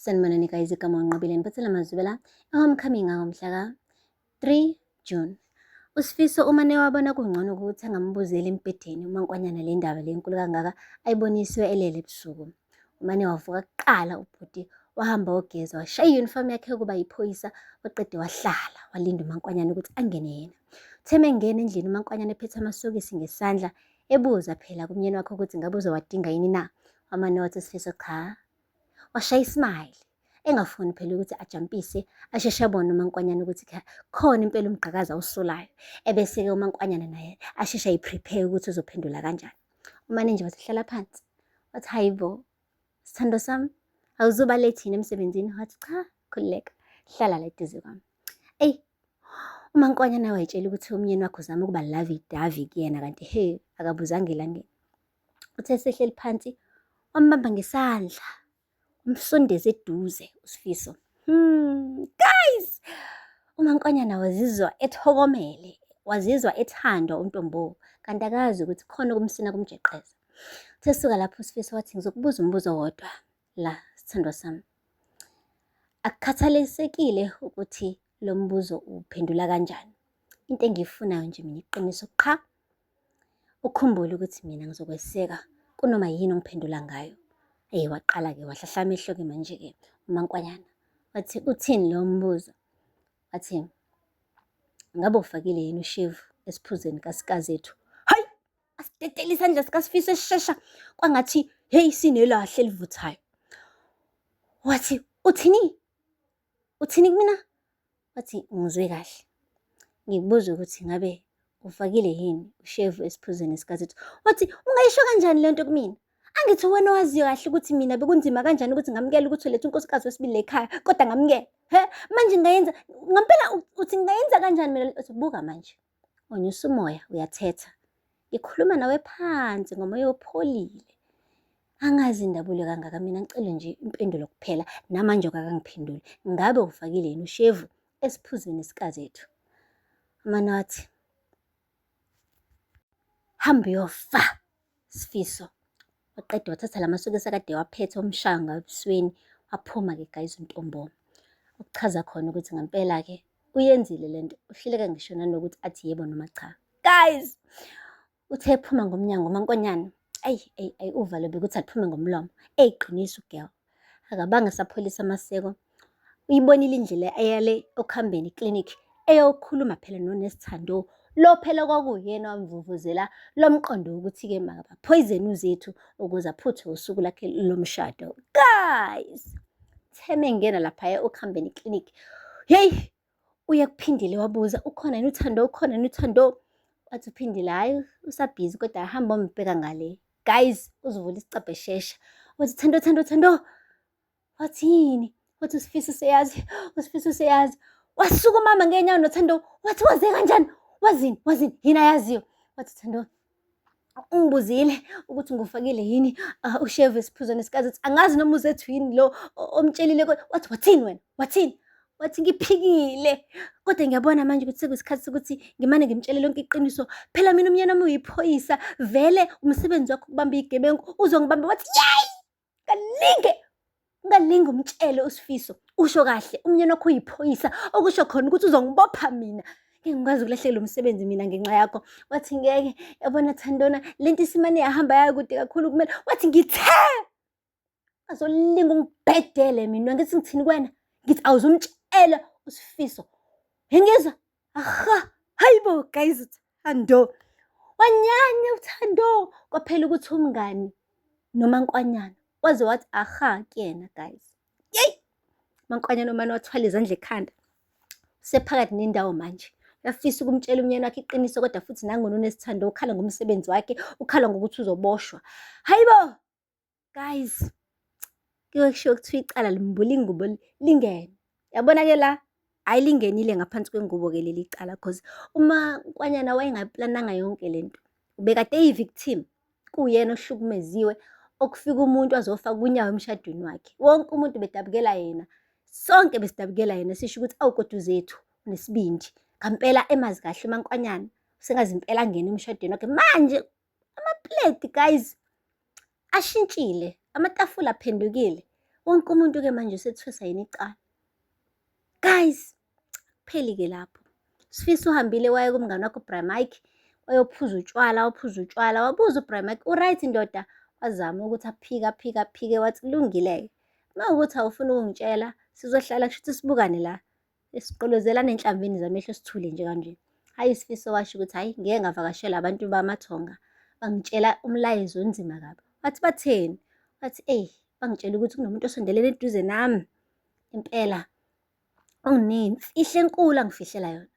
sanibonani guys igama unqobile ngiphethela amazwibela e-homecoming angomhlaka 3 june usifiso uma newabona kungcono ukuthi angambuzeli embhedeni uma nkwanyana le ndaba le nkulu kangaka ayiboniswe elele ebusuku uma newavuka kuqala ubhuti wahamba wogeza washaya iyunifomu yakhe yokuba yiphoyisa waqede wahlala walinda umankwanyana ukuthi angene yena utheme engena endlini umankwanyana ephethe amasokisi ngesandla ebuza phela kumyeni wakhe ukuthi ngabe uzowadinga yini na wamane wathi sifiso cha washaya ismile engafuni phela ukuthi ajampise asheshe abone umankwanyana ukuthi khona impela umgqakazi awusolayo ebese-ke umankwanyana naye asheshe ayiprepare ukuthi uzophendula kanjani umane nje wathi hlala phansi wathi hayi bo sithando sami awuzuba lethini emsebenzini wathi cha khululeka hlala la eduze kwami eyi umankwanyana wayitshela ukuthi umyeni wakho uzama ukuba lavi davi kuyena kanti he akabuzanga elangeni Uthe esehleli phansi wambamba ngesandla umsondeze eduze uSifiso. Hmm, guys! UMankonyana wazizwa ethokomele, wazizwa ethandwa uNtombo kanti akazi ukuthi khona okumsina kumjeqeza. Uthe suka lapho uSifiso wathi ngizokubuza umbuzo wodwa la sithandwa sami. Akukhathalisekile ukuthi lo mbuzo uphendula kanjani. Into engiyifunayo nje mina iqiniso qha. Ukhumbule ukuthi mina ngizokweseka kunoma yini ongiphendula ngayo. Ey waqala-ke wahlahla amehlo-ke manje-ke umankwanyana wathi uthini leyo mbuzo wathi ngabe ufakile yini ushevu esiphuzeni kasikazethu hayi asidedele isandla sikasifiso esishesha kwangathi heyi sinelahle elivuthayo wathi uthini Uthini kumina? Wathi, Ngizwe kahle. Ngibuza ukuthi ngabe ufakile yini ushevu esiphuzweni sikaZethu. Wathi, Ungayisho kanjani le nto kumina? Angithi wena owaziyo kahle ukuthi mina bekunzima kanjani ukuthi ngamukele ukuthi ulethe unkosikazi wesibili la ekhaya, kodwa ngamukela. He, manje ngayenza, ngampela uthi ngayenza kanjani mina? Uthi, Buka manje. Onyusa umoya uyathetha. Ngikhuluma nawe phansi ngomoya opholile. Angazi indabule kangaka mina ngicele nje impendulo kuphela namanje kakangiphenduli. Ngabe ufakile yini ushevu esiphuzweni sikazethu? Amana wathi hamba uyofa. Sifiso waqeda wathatha la masokisi akade waphethe umshaya ngabusweni waphuma-ke guys uNtomboma okuchaza khona ukuthi ngempela-ke uyenzile le nto uhluleka ngisho nanokuthi athi yebo noma cha guys uthe ephuma ngomnyango umankonyana ayi ayi ayi uvalo bekuthi aliphume ngomlomo eyiqiniso ugirl Akabange sapholisa amaseko. Uyibonile indlela eyale okuhambeni clinic eyokhuluma phela nonesi Thando lo phela kwakuyena wamvuvuzela lo mqondo wokuthi-ke makabaphoyizeni uzethu ukuze aphuthe usuku lakhe lomshado guys theme ngena laphaya okuhambeni clinic yeyi Uye kuphindile wabuza ukhona yini uthando ukhona yini uthando wathi uphindile hhayi usabhizi kodwa hamba ombheka ngale guys uzovula isicabhe shesha wathi thando thando thando wathi yini wathi usifisa useyazi usifisa useyazi wasuka umama ngenyawo nothando wathi waze kanjani wazini wazini yini ayaziyo wathi thando ungibuzile ukuthi ngufakile yini uh, usheve esiphuzweni sikazi ukuthi angazi noma uzethu yini lo omtshelile wathi wathini wena wathini wathi ngiphikile kodwa ngiyabona manje ukuthi sekuyisikhathi sokuthi ngimane ngimtshele lonke iqiniso phela mina umyeni wami uyiphoyisa vele umsebenzi wakho ukubamba igebengu uzongibamba wathi yeyi kaningi ungalingi umtshele usifiso usho kahle umnyeni wakho uyiphoyisa okusho khona ukuthi uzongibopha mina ngikwazi ukulahlekelwa umsebenzi mina ngenxa yakho wathi ngeke yabona thandona le nto isimane yahamba yakude kakhulu kumele wathi ngithe azolinga ungibhedele mina ngithi ngithini kwena ngithi awuzumtshela usifiso ngingizwa Aha, hayibo guys uthando. Wanyanya uthando kwaphela ukuthi umngani noma nkwanyana waze wathi aha kuyena guys. Yey! Mankwanyana umane wathwala izandla ekhanda. Usephakathi nendawo manje. Uyafisa ukumtshela umnyeni wakhe iqiniso kodwa futhi nangona unesithando ukhala ngomsebenzi wakhe, ukhala ngokuthi uzoboshwa. Hayibo! guys kuyoke kushiwo kuthiwa icala limbula ingubo lingene yabona ke la hhayi lingenile ngaphansi kwengubo ke leli cala cause uma kwanyana wayengayiplananga yonke le nto ubekade eyi-victim kuwuyena ohlukumeziwe okufika umuntu azofaka unyawo emshadweni wakhe wonke umuntu bedabukela yena sonke besidabukela yena sisho ukuthi awukodwa uzethu nesibindi ngampela emazi kahle umankwanyana sengazi impela angena emshadweni wakhe manje Amapleti guys ashintshile, amatafula aphendukile. Wonke umuntu-ke manje usethwesa yini icala. Guys, kupheli-ke lapho. Sifisa uhambile waye kumngane wakho uBramike, wayophuza utshwala, waphuza utshwala, wabuza uBramike, uright ndoda? Wazama ukuthi aphike, aphike, aphike, wathi kulungile-ke. Uma ukuthi awufuni ukungitshela, sizohlala kushuthi sibukane la. Esiqolozela nenhlambini zamehlo sithule nje kanje. Hhayi isifiso washo ukuthi hhayi ngeke ngavakashela abantu bamathonga. Bangitshela umlayezo onzima kabi. Wathi batheni? Wathi eyi bangitshela ukuthi kunomuntu osondelele eduze nami. Impela onginemfihlo enkulu angifihlela yona.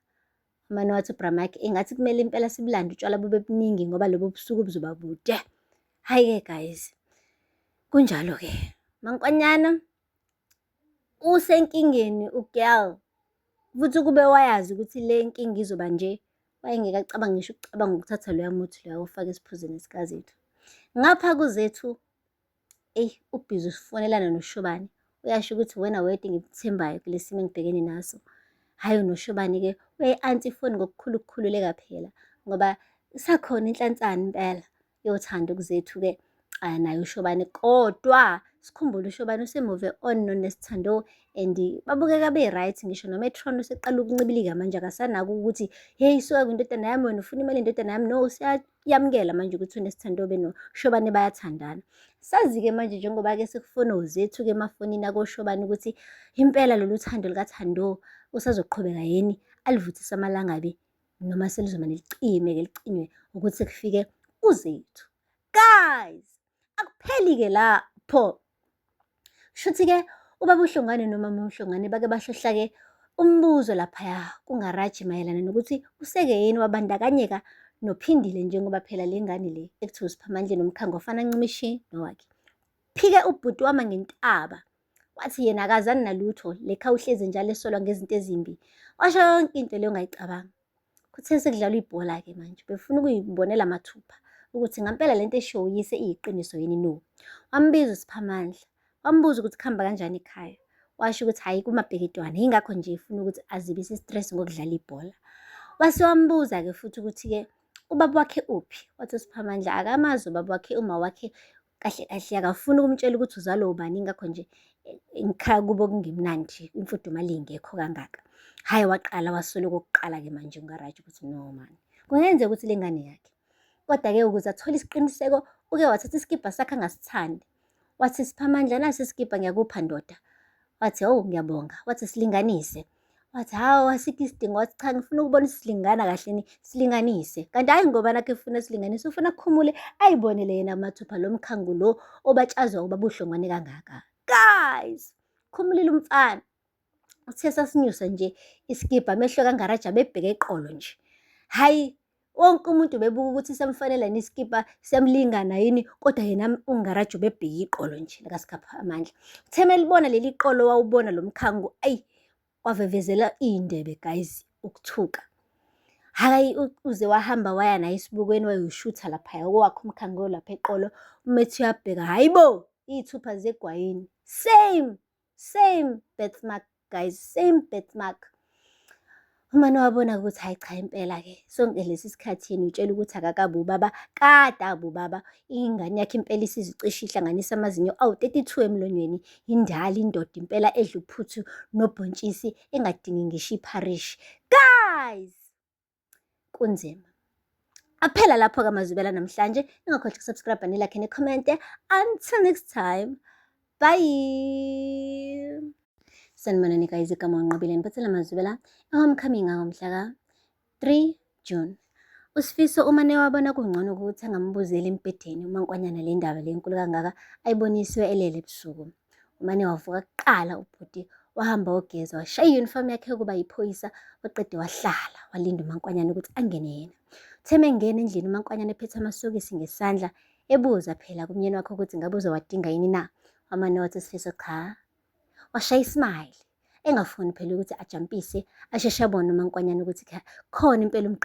Umane wathi uBramaki engathi kumele impela sibulande utshwala bube buningi ngoba lobo busuku buzoba bude. Hhayi-ke guys, kunjalo-ke. Mankonyana usenkingeni ugirl futhi ukube wayazi ukuthi le nkinga izoba nje wayengeke acabanga ngisho ukucabanga ukuthatha loya muthi loya ufake esiphuzini sikazethu ngapha kuzethu eyi ubhizi usifonelana noshobane uyasho ukuthi wena wedwa ngikuthembayo kule simo engibhekene naso hhayi unoshobane-ke uyayi-anti ifoni ngokukhulu ukukhululeka phela ngoba isakhona inhlansana impela yothanda ukuzethu ke ah, naye ushobane kodwa sikhumbule ushobane usemove on nonesithando and babukeka be-right ngisho nometron useqala ukuncibilika manje akasanako ukuthi heyi suka kwindodana yami wena ufuna imali indodana yami no siyayamukela manje ukuthi unesithando be noshobane bayathandana sazi-ke manje njengoba-ke sekufona uzethu-ke emafonini akoshobane ukuthi impela lolu thando likathando usazoqhubeka yini alivuthisa amalanga be noma selizomane licime-ke licinywe ukuthi sekufike uZethu. Guys, akupheli-ke lapho. Shuthi-ke ubaba uHlongane nomama uHlongane bake bahlohlake umbuzo laphaya kungaraji mayelana nokuthi useke yini wabandakanyeka nophindile njengoba phela le ngane le ekuthiwa usiphamandle nomkhango ofana ncimishi nowakhe phike ubhuti wama ngentaba Wathi yena akazani nalutho, lekha uhlezi njalo esolwa ngezinto ezimbi. Washo yonke into leyo ngayicabanga. Kuthe sekudlalwa ibhola-ke manje, befuna ukuyibonela mathupha ukuthi ngampela le nto eshiwo uyise iyiqiniso yini no. Wambiza uSiphamandla, wambuza ukuthi kuhamba kanjani ekhaya. Washo ukuthi hhayi kumabheketwana, yingakho nje efuna ukuthi azibise i-stress ngokudlala ibhola. Wase wambuza-ke futhi ukuthi-ke ubaba wakhe uphi? Wathi uSiphamandla akamazi ubaba wakhe, uma wakhe kahle kahle akafuni ukumtshela ukuthi uzalwa ubani ngakho nje eh, ngikhaya kubo kungemnandi imfudumali ingekho kangaka hhayi waqala waswele kokuqala-ke manje ungaraji ukuthi no mani kungenzeka ukuthi le ngane yakhe kodwa-ke ukuze athole isiqiniseko uke wathatha isikibha sakhe angasithandi wathi siphamandla nasi isikibha ngiyakupha ndoda wathi owu ngiyabonga wathi silinganise wathi hawu asikho isidingo wathi cha ngifuna ukubona isilingana kahleni silinganise kanti hhayi ngoba nakho efuna silinganise ufuna akhumule ayibonele yena mathupha lo mkhangu lo obatshazwa ukuba buhlongwane kangaka guys khumulile umfana uthe sasinyusa nje isikibha amehlo kangaraja bebheke eqolo nje hhayi Wonke umuntu ubebuka ukuthi samfanele yini isikibha, siyamlingana yini, kodwa yena uNgaraji ubebheke iqolo nje likaSikhapha Amandla. Uthe melibona leli qolo wawubona lo mkhango, ayi wavevezela iy'ndebe guys ukuthuka. Hhayi uze wahamba waya naye esibukweni wayoshutha laphaya owakhe umkhango lapha eqolo, umethi uyabheka, hhayi bo! Iy'thupha zegwayini, same! same birthmark guys same birthmark uma niwabona ukuthi hayi cha impela-ke sonke lesi sikhathi yena utshela ukuthi akakabi ubaba kade abi ubaba ingane yakhe impela isizicisha ihlanganisa amazinyo awu-32 emlonyweni yindala indoda impela edla uphuthu nobhontshisi engadingi ngisho ipharishi guys kunzima aphela lapho ke amazwibela namhlanje ningakhohlwa ukusubscribe nilakhe nikhomente until next time bye sanibona nika izigama unqobile nipatsela amazwibela ehomecoming angomhla ka 3 june usifiso uma newabona kungcono ukuthi angambuzeli embhedeni umankwanyana le ndaba le nkulu kangaka ayibonisiwe elele ebusuku umane wavuka kuqala ubhuti wahamba wogeza washaya iyunifomu yakhe yokuba yiphoyisa waqede wahlala walinda umankwanyana ukuthi angene yena uthe mengena endlini umankwanyana ephethe amasokisi ngesandla ebuza phela kumyeni wakhe ukuthi ngabe uzowadinga yini na wamane wathi sifiso cha washaya ismile engafuni phela ukuthi ajampise asheshe abone umankwanyana ukuthi khona impela